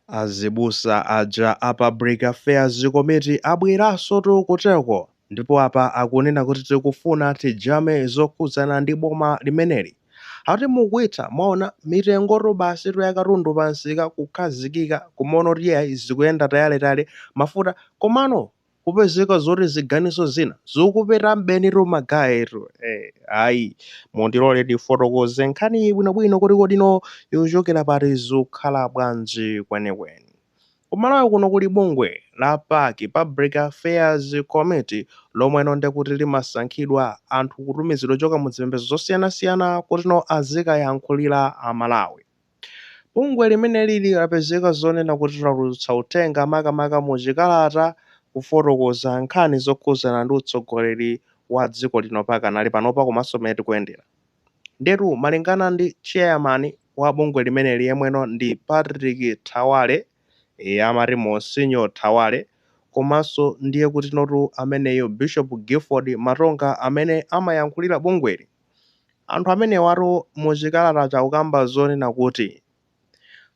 Azibusa aja a Public Affairs Committee abweransotu kuteko ndipo apa akunena kuti tikufuna tijame zokhudzana ndi boma limeneli. Ati mukuitha, mwaona mitengotu basitu ya katundu pamsika kukhazikika kumaona kuti iyayi zikuyenda tayaletale, mafuta. Komano kupezeka zoti ziganizo zina zikupeta m'benitu magayetu eh, ayi mundilole ndifotokoze nkhani bwinobwino kuti kodino yochokera pati zikukhala bwanji kwenikweni kumalawi kuno kuli bungwe la pac public affairs committee lomweno ndekuti limasankhidwa anthu kutumizidwa choka mu zipembedzo zosiyanasiyana kutino azikayankhulira amalawi Bungwe limenelili lapezeka zonena kuti latulutsa uthenga makamaka mu chikalata kufotokoza nkhani zokhuzana ndi utsogoleri wa dziko lino pakanali panopa komanso mmene tikuyendera. Ndiyetu malingana ndi chairman wa bungwe limeneli yemweno ndi Patrick Thawale, eya amati Monsignor Thawale, komanso ndiye kutinotu ameneyo Bishop Gilford Matonga amene amayankhulira bungweli, Anthu amenewatu mu chikalatachi akukamba zonena kuti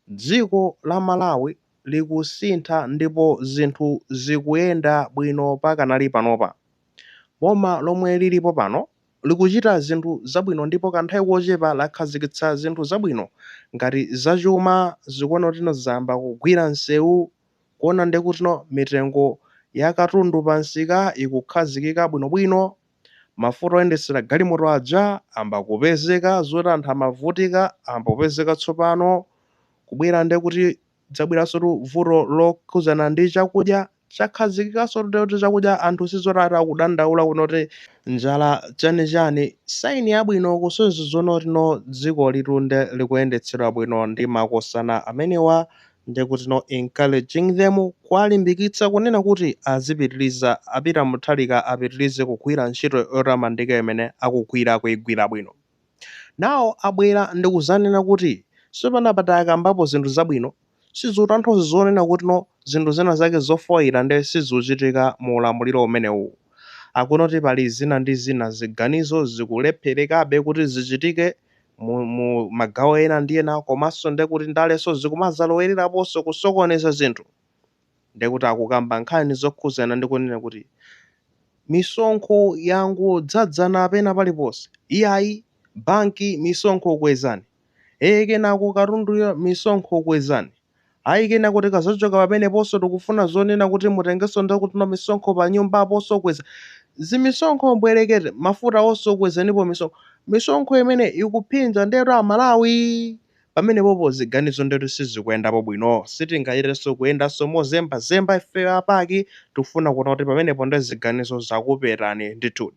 dziko la Malawi likusintha ndipo zinthu zikuyenda bwino pakanali panopa. Boma lomwe lilipo pano likuchita zinthu zabwino ndipo kanthawi kochepa lakhazikitsa zinthu zabwino ngati zachuma zikuona kutino zayamba kugwira nsewu kuona ndekutino mitengo ya katundu pa msika ikukhazikika bwinobwino Mafuta oyendetsera galimoto aja amba kupezeka, zoti anthu amavutika amba kupezeka tsopano, kubwera ndiye kuti kudzabweransotu vuto lokhudzana ndi chakudya, chakhazikikanso kuti ndiye kuti chakudya anthu sizoti ati akudandaula kunena kuti njala chani chani, sign yabwino kusonyeza zonotino dzikolitu nde likuyendetsedwa bwino ndi makosana amenewa Ndiye kutino encouraging them kuwalimbikitsa kunena kuti azipitiriza a Peter Mutharika apitirize kugwira ntchito yotamandika imene akugwira akuigwira bwino. Nawo abwera ndikuzanena kuti sopano apa takambapo zinthu zabwino sizikutanthauza zonena kutino zinthu zina zake zofoira nde sizikuchitika mu ulamuliro umenewu. Akunoti pali zina ndi zina ziganizo zikulepherekabe kuti zichitike. mu, mu magawo ena ndi ena komanso nde kuti ndalenso zikumazalowereraponso kusokoneza zinthu nde kuti akukamba nkhani zokhudzana ndi kunena kuti misonkho yangodzadzana pena paliponse iyayi banki misonkho kwezani ee kenako katunduyo misonkho kwezani Ayi kenako tikazochoka pameneponso tikufuna zonena kuti mutengenso nde kutino misonkho pa nyumba aponso kwezani zimisonkho mbwerekete mafuta onso kwezanipo misonkho misonkho imene ikuphinja ndetu Amalawi pamenepopo ziganizo ndetu sizikuyendapo bwino sitingachitenso kuyendanso mozembazemba ife a PAC tikufuna kuona kuti pamenepo nde ziganizo zakupepani ndithudi.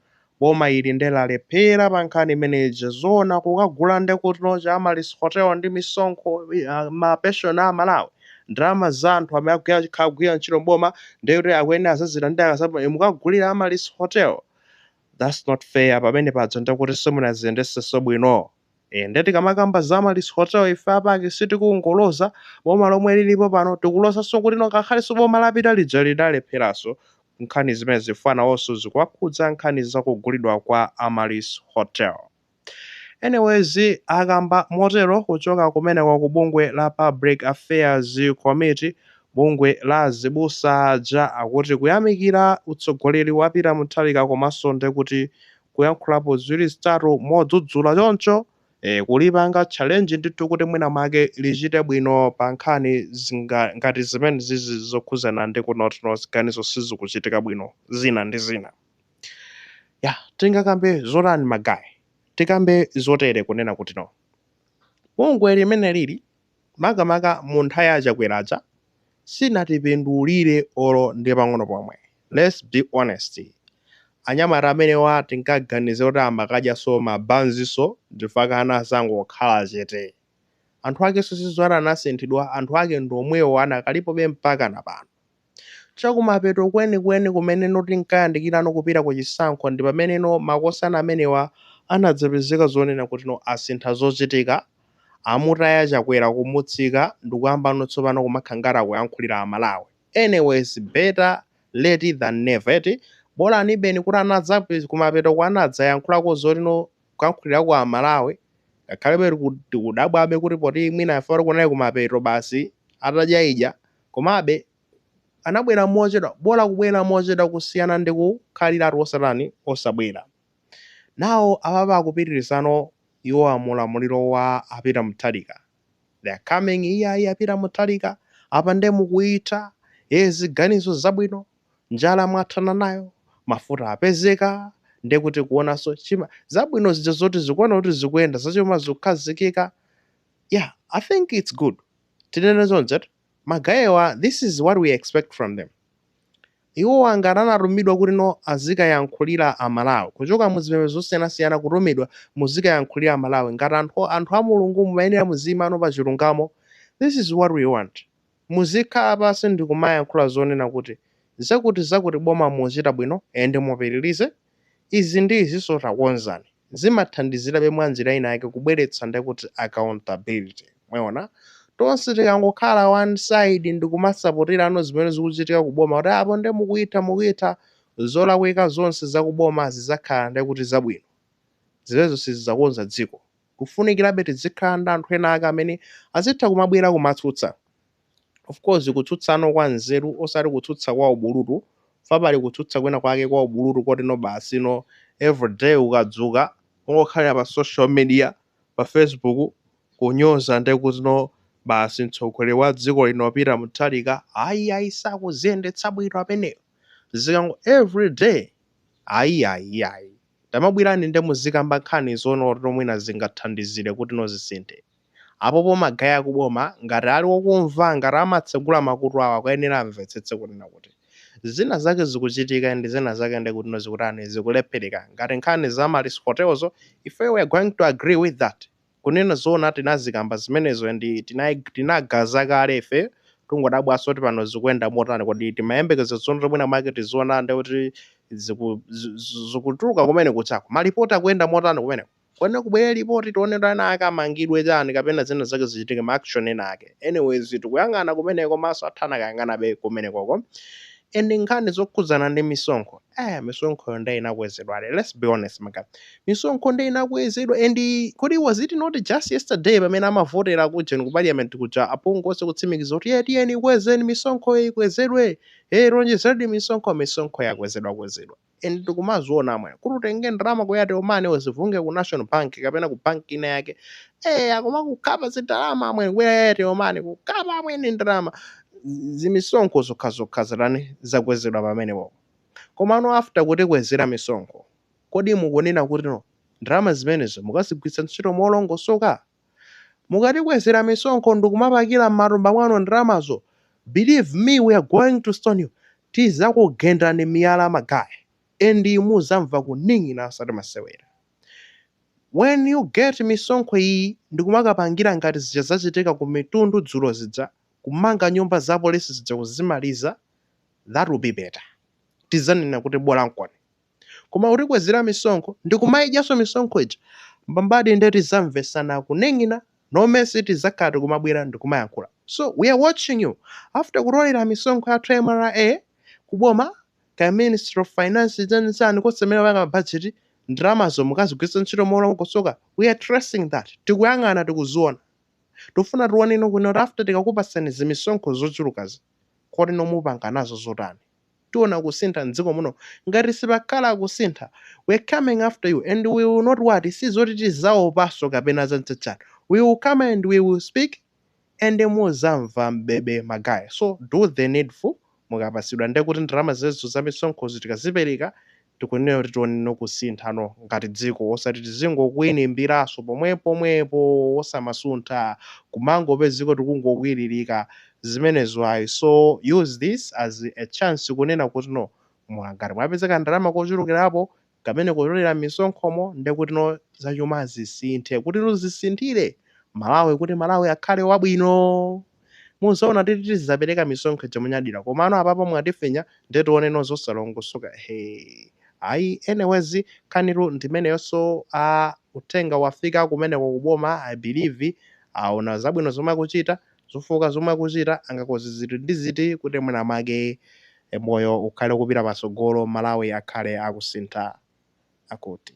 Boma ili nde lalephera pa nkhani imene ija. Zoona kukagula nde kutino cha Amaryllis Hotel ndi misonkho ma pension a Malawi? Ndalama za anthu amene akugwira akhala akugwira ntchito m'boma nde kuti akuyenera azazilandire akazapuma nde mukagulira Amaryllis Hotel? That's not fair pamene paja nde kuti simunaziyendetsenso bwino. Eee nde tikamakamba za Amaryllis Hotel ife a PAC sitikungoloza boma lomwe lilipo pano tikulozanso kutino ngakhalenso boma lapita lija lidalepheranso nkhani zimenezi chifukwa nawonso zikuwakhudza nkhani za kugulidwa kwa Amaryllis Hotel. Anyways akamba motero kuchoka kumeneko ku bungwe la Public Affairs Committee bungwe la azibusa aja akuti kuyamikira utsogoleri wa a Peter Mutharika komanso ndekuti kuyankhulapo ziwiri zitatu modzudzula choncho eh, kulipanga challenge ndithu kuti mwina mwake lichite bwino pa nkhani zinga, ngati zimenezizi zokhudzana ndi kunena kutino ziganizo sizikuchitika bwino zina ndi zina ya tingakambe zotani magayi tikambe zotere kunena kutino bungwe limenelili makamaka mu nthawi ya Chakwera ija sinatipindulire olo ndi pang'ono pomwe let's be honest anyamata amenewa tinkaganizira kuti amakadyanso mabanzi so ndi chifukwa chake anazangokhala chete anthu akenso sizoti anasinthidwa anthu ake ndi omwewo anakalipobe mpakana pano. Chakumapeto kwenikweni kumeneno tinkayandikirano kupita ku chisankho ndi pameneno makosana amenewa anadzapezeka zonena kutino asintha zochitika, amutaya Chakwera kumutsitsa ndikuyambano tsopano kumakhala ngati akuyankhulira a Malawi. Anyways better late than never eti? Bolanibeni kuti kumapetoko anadzayankhulako zotino kuyankhulirako a Malawi ngakhalebe tiku tikudabwabe kuti poti mwina chifukwa kunali kumapeto basi atadyaidya. Komabe, anabwera mochedwa, bola kubwera mochedwa kusiyana ndi kukhaliratu osatani, osabwera. Nawo apapa akupitirizano iwowa mu ulamuliro wa a Peter Mutharika. They are coming, iyayi a Peter Mutharika, apa nde mukuitha, ee ziganizo zabwino, njala mwathana nayo, mafuta apezeka, nde kuti kuonanso chima, zabwino zija zoti akuziona kuti zikuyenda, zachuma zikukhazikika, yeah, I think it's good. tinene choncho eti, ma gay'wa this is what we expect from them, iwowa ngati anatumidwa kuti no azikayankhulira a Malawi, kuchoka mu zipembezo zosiyanasiyana kutumidwa muzikayankhulira a Malawi ngati anthu, anthu a Mulungu mumayenera muziimano pa chilungamo, this is what we want, muzikhala pansi ndikumayankhula zonena kuti zakuti zakuti boma mukuchita bwino and mupitilize, Izi ndi izinso takonzani. Zimathandizirabe mwa njira ina yake kubweretsa ndiye kuti accountability. Mwaona? Tonse tikangokhala one side ndi kumasapoterano zimene zikuchitika ku boma kuti apo ndiye mukuitha mukuitha, zolakwika zonse za ku boma zidzakhala ndiye kuti zabwino. Zimenezo sizidzakonza dziko. Kufunikirabe tizikhala ndi anthu ena ake amene azitha kumabwera kumatsutsa. of course kutsutsano kwa nzeru osati kutsutsa kwa ubulutu chifukwa pali kutsutsa kwina kwake kwa ubulutu koti no basi no everyday ukadzuka ungokhalira pa social media pa facebook kunyoza nde kuti no basi mtsogoleri wa dziko lino Peter Mutharika ayi ayi sakuziyendetsa bwino ameneyo zikango everyday ayi ayi ayi tamabwirani nde muzikamba nkhani zonena kuti no mwina zingathandizire kuti no zisinthe apopo ma guy akuboma ngati ali okumva ngati amatsegula makutu awo akuyenera amvetsetse kunena kuti zina zake zikuchitika and zina zake nde kutino zikutani zikulephereka ngati nkhani za Amaryllis hotel zo ifeyo we are going to agree with that kunena zoona tinazikamba zimenezo and tinai- tinagaza kale ifeyo tungodabwaso kuti pano zikuyenda motani kodi timayembekeza zoti no mwina mwake tiziona nde kuti ziku- zi- zi- zikutuluka kumene kuchako malipoti akuyenda motani kumeneko Kwene kubwere report tione kuti ena ake amangidwe chani kapena zina zake zichitike ma action ena ake. Anyways tikuyang'ana kumeneko maso athu akuyang'anabe kumenekoko and nkhani zokhudzana ndi misonkho eh misonkhoyo nde inakwezedwadi let's be honest ma guy misonkho nde inakwezedwa and kodi was it not just yesterday pamene amavotera kuja ku parliament kuja aphungu onse kutsimikiza kuti "Eh, tiyeni ikwezeni misonkhoyo ikwezedwe eh onjezerani misonkho misonkho yakwezedwa kwezedwa and tikumaziona amwe kuti utenge ndalama ku airtel money uzivunge ku national bank kapena ku bank ina yake eh akumakukhapa zindalama amwe ku airtel money kukukhapa amwene ndalama zimisonkho zokha zokha zitani zakwezedwa pamenepo komano after kutikwezera misonkho kodi mukunena kuti no ndalama zimenezo mukazigwiritsa ntchito molongosoka Mukatikwezera misonkho ndikumapakira mmatumba mwanu ndalamazo believe me we are going to stone you tizakugendani miyala ma guy and muzamva kuning'ina osati masewera when you get misonkho iyi ndikumakapangira ngati zija zachitika ku Mitundu dzulo zija kumanga nyumba za police zija kuzimaliza that will be better tizanena kuti bolankoni. koma kutikwezera misonkho ndikumaidyaso misonkho ija mbambadi nde tizamvesana kuning'ina no mercy tizakhala tikumabwera ndikumayankhula so we are watching you after kutolera misonkho yathu ya mra kuboma kaya ministry of finance chani chani konse kumene kupanga ma budget ndalamazo mukazigwiritsa ntchito molongosoka we are tracing that tikuyang'ana tikuziona tufuna tione ino kuno kuti after tikakupatsani zimisonkho zochulukazi kodi nanga mupanga nazo zotani tiona kusintha mdziko muno ngati sipakhala kusintha we're coming after you and we will not what sizoti tizaopaso kapena zachanichani we will come and we will speak and muzamva mbebe magaye so do the needful mukapasidwa ndekuti ndalama zimenezo zamisonkhozi tikazipereka tikunena kuti tione no kusinthano ngati dziko osati tizingokwinimbiraso pomwepomwepo osamasuntha kumangopeza dziko likungokwiririka zimenezo ayi so use this as a chance kunena kuti no mwa ngati mwapeza kandalama kochulukirapo kamene mukutolera mmisonkhomo ndekuti no zachuma zisinthe kuti no zisinthire Malawi kuti Malawi akhale wabwino. muzaona titi tizapereka misonkho ija monyadira komano apapa mwatifinya nde tioneno zosalongosoka ehee ayi anyways nkhanitu ndimeneyo so uh, uthenga wafika kumeneko kuboma i believe aona zabwino zomwe akuchita zofooka zomwe akuchita angakonze ziti ndi ziti kuti mwina mwake eh, moyo ukhale kupita patsogolo malawi akhale akusintha akuti